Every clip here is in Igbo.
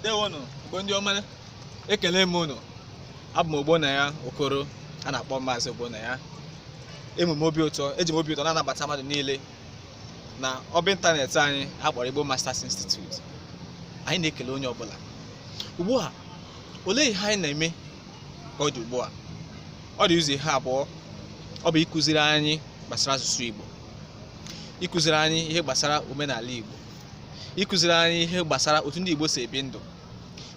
ndewonụ Igbo ndị ọma ekele m unu abụ m Ogbonnaya Okoro a na-akpọ maazị Ogbonnaya enwere m obi ụtọ eji m obi ụtọ na-anabata mmadụ niile na ọba ịntanetị anyị a kpọrọ Igbo Masters Institute anyị na-ekele onye ọbụla ugbu a olee ihe anyị na-eme ka ọ dị ugbu a ọ dị ụzọ ihe abụọ ọ bụ ịkụziri anyị gbasara asụsụ Igbo ịkụziri anyị ihe gbasara omenala Igbo ịkụziri anyị ihe gbasara otu ndị Igbo si ebi ndụ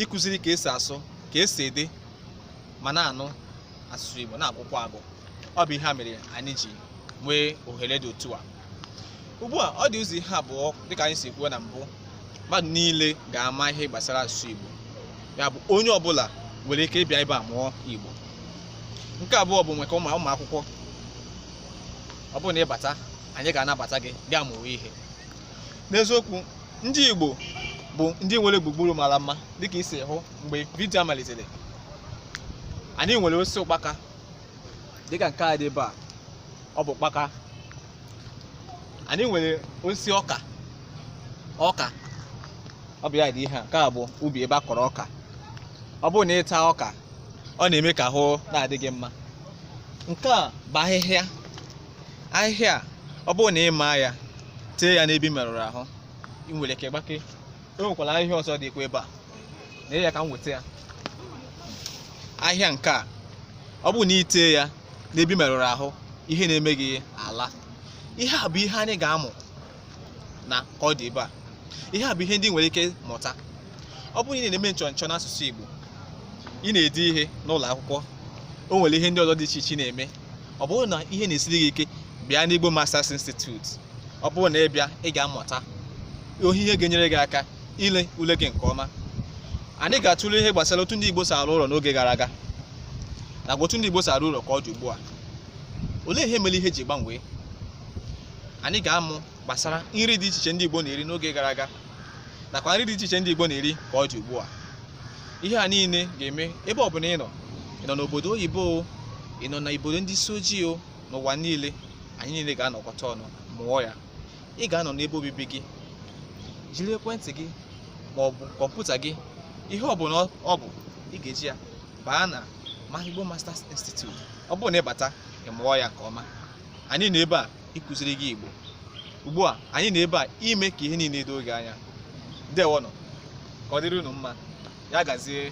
ịkụziri ka esi asụ ka esi ede ma na-anụ asụsụ Igbo na-agụkwa agụ ọ bụ ihe a mere anyị ji nwee ohere dị otu a ugbu a ọ dị ụzọ ihe abụọ dịka anyị si kwuo na mbụ mmadụ niile ga-ama ihe gbasara asụsụ Igbo ya bụ onye ọbụla nwere ike ịbịa ebe a mụọ Igbo nke abụọ bụ maka ụmụ akwụkwọ ọ bụrụ na ị bata anyị ga-anabata gị gaa mụwa ihe n'eziokwu ndị Igbo bụ ndị nwere gburugburu mara mma dịka i si hụ mgbe vidio a malitere anyị nwere osisi ụkpaka dịka nke a dị ebe a ọ bụ ụkpaka anyị nwere osisi ọka ọka ọ bụ ya dị ihe a nke a bụ ubi ebe a kọrọ ọka ọ bụrụ na ị taa ọka ọ na-eme ka ahụ na-adị gị mma nke a bụ ahịhịa ahịhịa a ọ bụrụ na ị maa ya tee ya n'ebe ị merụrụ ahụ ị nwere ike gbake e nwekwara ahịhịa ọzọ dịkwa ebe a na ya ka m weta ya ahịhịa nke a ọ bụrụ na ị tee ya n'ebe ị merụrụ ahụ ihe na-eme gị alaa ihe a bụ ihe anyị ga-amụ na ka ọ dị ugbu a ihe a bụ ihe ndị ị nwere ike mụta ọ bụrụ na ị na-eme nchọnchọ n'asụsụ Igbo ị na-ede ihe n'ụlọ akwụkwọ o nwere ihe ndị ọzọ dị iche iche ị na-eme ọ bụrụ na ihe na-esiri gị ike bịa n'Igbo Masters Institute ọ bụrụ na ị bịa ị ga-amụta ihe ihe ga-enyere gị aka ile ule gị nke ọma anyị ga-atụle ihe gbasara otu ndị Igbo si arụ ụlọ n'oge gara aga na otu ndị Igbo si arụ ụlọ ka ọ dị ugbu a olee ihe mere ihe ji gbanwee anyị ga-amụ gbasara nri dị iche iche ndị Igbo na-eri n'oge gara aga nakwa nri dị iche iche ndị Igbo na-eri ka ọ dị ugbu a ihe a niile ga-eme ebe ọbụla ị nọ ị nọ n'obodo oyibo o ị nọ n'obodo ndị isi ojii o n'ụwa niile anyị niile ga-anọkọta ọnụ mụọ ya ị ga-anọ n'ebe obibi gị jiri ekwentị gị ma ọ bụ kọmputa gị ihe ọbụla ọ bụ ị ga-eji ya baa n'ime Igbo Masters Institute ọ bụrụ na ị bata ị mụọ ya nke ọma anyị nọ ebe a ịkụziri gị Igbo ugbu a anyị nọ ebe a ime ka ihe niile doo gị anya ndewonụ ka ọ dịrị unu mma ya gazie